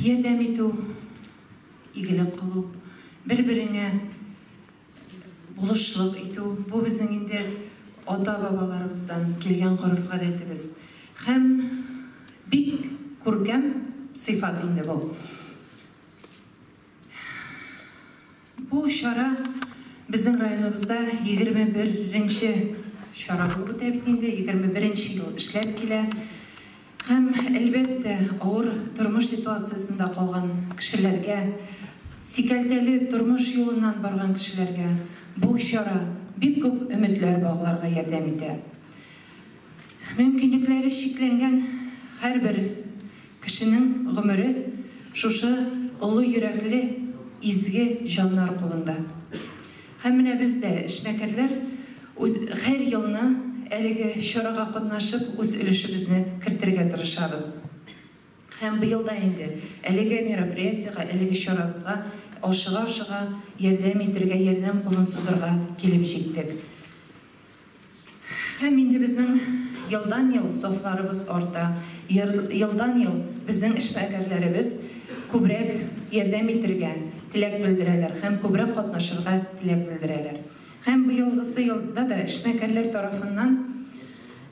Ярдәм итү, игелек кылу, бер-береңә булышлык итү, бу безнең инде ата-бабаларыбыздан килгән гореф-гадәтебез. Һәм бик күркәм сыйфат инде бу. Бу чара безнең районыбызда егерме беренче чара булып үтә бит инде, егерме беренче ел эшләп килә. Һәм, әлбәттә, авыр тормыш ситуациясендә калган кешеләргә, сикәлтәле тормыш юлыннан барган кешеләргә бу чара бик күп өметләр багларга ярдәм итә. Мөмкинлекләре чикләнгән һәрбер кешенең гомере шушы олы йөрәкле, изге җаннар кулында. Һәм менә без дә, эшмәкәрләр, үз һәр елны әлеге чарага катнашып, үз өлешебезне кертергә тырышабыз. Һәм быел да инде әлеге мероприятиегә, әлеге чарабызга ашыга-ашыга ярдәм итергә, ярдәм кулын сузырга килеп җиттек. Һәм инде безнең елдан-ел сафларыбыз арта, елдан-ел безнең эшмәкәрләребез күбрәк ярдәм итергә теләк белдерәләр һәм күбрәк катнашырга теләк белдерәләр. Һәм быелгысы елда да эшмәкәрләр тарафыннан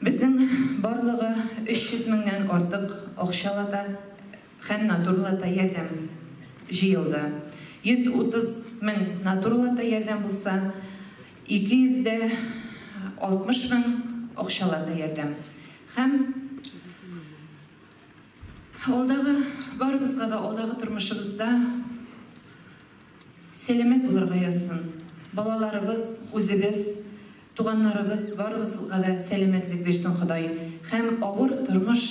безнең барлыгы 300 меңнән артык акчалата Һәм натурлата ярдәм җыелды. 130 мең натурлата ярдәм булса, 200 дә 60 мең акчалата ярдәм. Һәм алдагы, барыбызга да алдагы тормышыбызда сәламәт булырга язсын. Балаларыбыз, үзебез. Туганнарыбыз барыбызга да сәламәтлек бирсен Ходай һәм авыр тормыш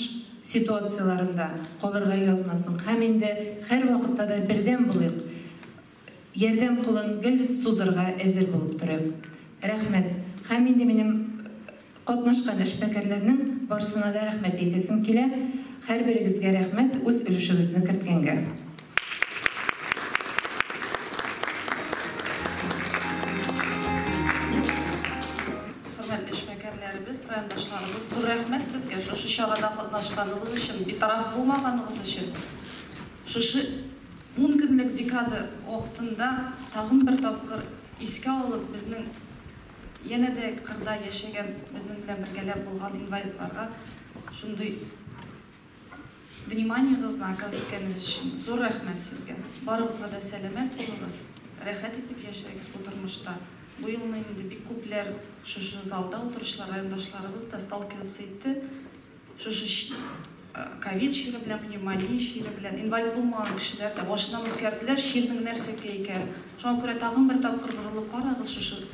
ситуацияләрендә калырга язмасын һәм инде һәрвакытта да бердәм булыйк, ярдәм кулын гел сузырга әзер булып торыйк. Рәхмәт. Һәм инде минем катнашкан эшмәкәрләрнең барсына да рәхмәт әйтәсем килә. Һәрберегезгә рәхмәт, үз өлешегезне керткәнгә. Хөрмәтле эшмәкәрләребез, райондашларыбыз, зур рәхмәт сезгә шушы чарада катнашканыгыз өчен, битараф булмаганыгыз өчен. Шушы 10 көнлек декада вакытында тагын бер тапкыр искә алып, безнең янә дә кырда яшәгән, безнең белән бергәләп булган инвалидларга шундый Вниманиегызны оказ иткәнегез өчен зур рәхмәт сезгә! Барыгызга да сәламәт булыгыз, рәхәт итеп яшәгез бу тормышта! Бу елны инде бик күпләр шушы залда утыручылар райондашларыбыз да сталкиваться итте шушы ковид чиры белән, пневмония чиры белән. Инвалид булмаган кешеләр дә башыннан үткәрделәр чирнең нәрсәкә икәнен. Шуңа күрә тагын бер тапкыр борылып карагыз шушы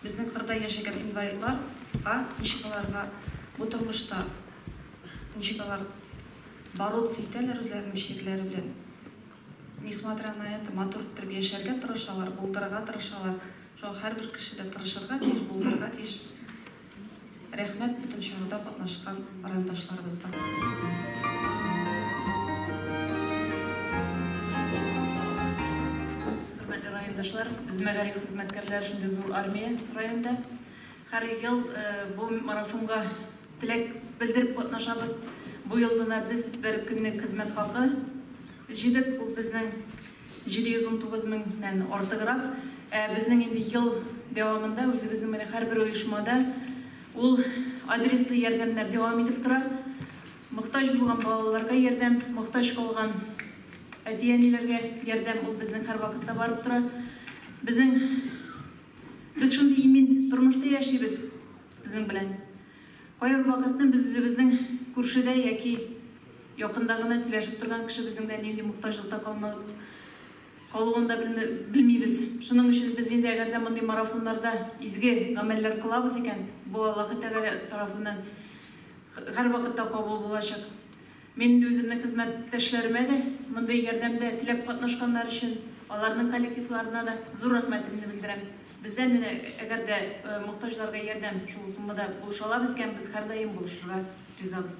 безнең кырда яшәгән инвалидларга ничек аларга бу тормышта Ничек алар бороться итәләр үзләренең чирләре белән. Несмотря на это, матур иттереп яшәргә тырышалар, булдырырга тырышалар. Шуңа һәрбер кеше дә тырышырга тиеш, булдырырга тиеш. Рәхмәт бөтен чарада катнашкан райондашларыбызга. Хөрмәтле райондашлар, без мәгариф хезмәткәрләре шундый зур армия районда. Һәр ел бу марафонга теләк белдереп катнашабыз. Бу ел гына без бер көнлек хезмәт хакы җыйдык. Ул безнең 719 меңнән артыграк. Ә безнең инде ел дәвамында үзебезнең менә һәрбер оешмада ул адреслы ярдәмнәр дәвам итеп тора. Мохтаҗ булган балаларга ярдәм, мохтаҗ калган әти-әниләргә ярдәм ул безнең һәрвакытта барып тора. Безнең Без шундый имин тормышта яшибез сезнең белән. Кайбер вакытны без үзебезнең күршедә яки якында гына сөйләшеп торган кешебезнең дә нинди мохтаҗлыкта калмалып калуын да белмибез. Шуның өчен без инде әгәр дә мондый марафоннарда изге гамәлләр кылабыз икән, бу Аллаһы Тәгалә тарафыннан һәрвакытта кабул булачак. Мин инде үземнең хезмәттәшләремә дә, мондый ярдәмдә теләп катнашканнар өчен аларның коллективларына да зур рәхмәтемне белдерәм. Бездән менә әгәр дә мохтаҗларга ярдәм шул суммада булышалар икән, без һәрдаим булышырга ризабыз.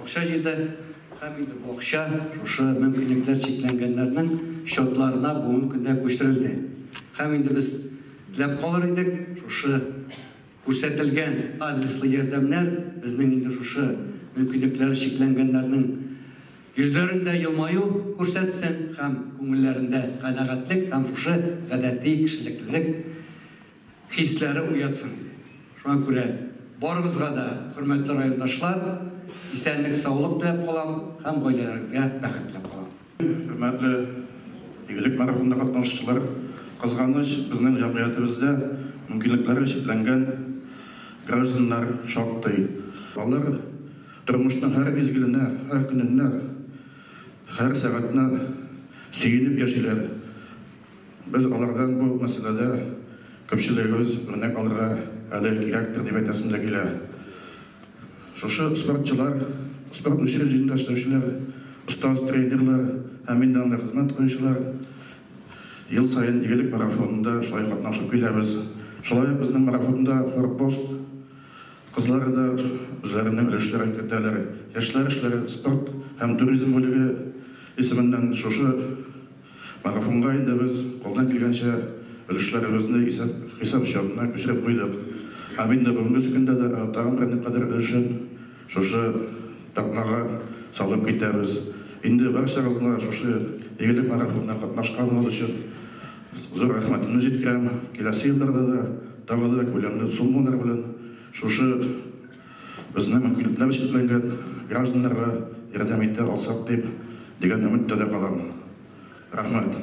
Акча җитә һәм инде бу акча шушы мөмкинлекләр чикләнгәннәрнең счетларына бүгенге көндә күчерелде. Һәм инде без теләп калыр идек, шушы күрсәтелгән адреслы ярдәмнәр безнең инде шушы мөмкинлекләре чикләнгәннәрнең йөзләрендә елмаю күрсәтсен һәм күңелләрендә канәгатьлек һәм шушы гадәти кешелеклелек хисләре уятсын. Шуңа күрә барыгызга да, хөрмәтле райондашлар, исәнлек-саулык теләп калам һәм гаиләләрегезгә бәхет теләп калам. Хөрмәтле Игелек марафонында катнашучылар! Кызганыч, безнең җәмгыятебездә мөмкинлекләре чикләнгән гражданнар шактый. Алар тормышның һәр мизгеленә, һәр көненә, һәр сәгатенә сөенеп яшиләр. Без алардан бу мәсьәләдә күпчелегебез үрнәк алырга әле кирәктер дип әйтәсем дә килә. Шушы спортчылар, спорт учреждениесендә эшләүчеләр, остаз тренерлар һәм мин дә анда хезмәт куючылар ел саен Игелек марафонында шулай катнашып киләбез. Шулай ук безнең марафонда Форпост кызлары да үзләренең өлешләрен кертәләр. Яшьләр эшләре спорт һәм туризм бүлеге исеменнән шушы Марафонга инде без кулдан килгәнчә өлешләребезне исәп-хисап счетына күчереп куйдык һәм инде бүгенгесе көндә дә тагын бер никадәр өлешен шушы тартмага салып китәбез. Инде барчагызга шушы игелек марафонына катнашканыгыз өчен зур рәхмәтемне җиткерәм. Киләсе елларда да тагы да күләмле суммалар белән шушы. Безнең мөмкинлекләр чикләнгән гражданнарга ярдәм итә алсак дип, дигән өметтә дә калам. Рәхмәт.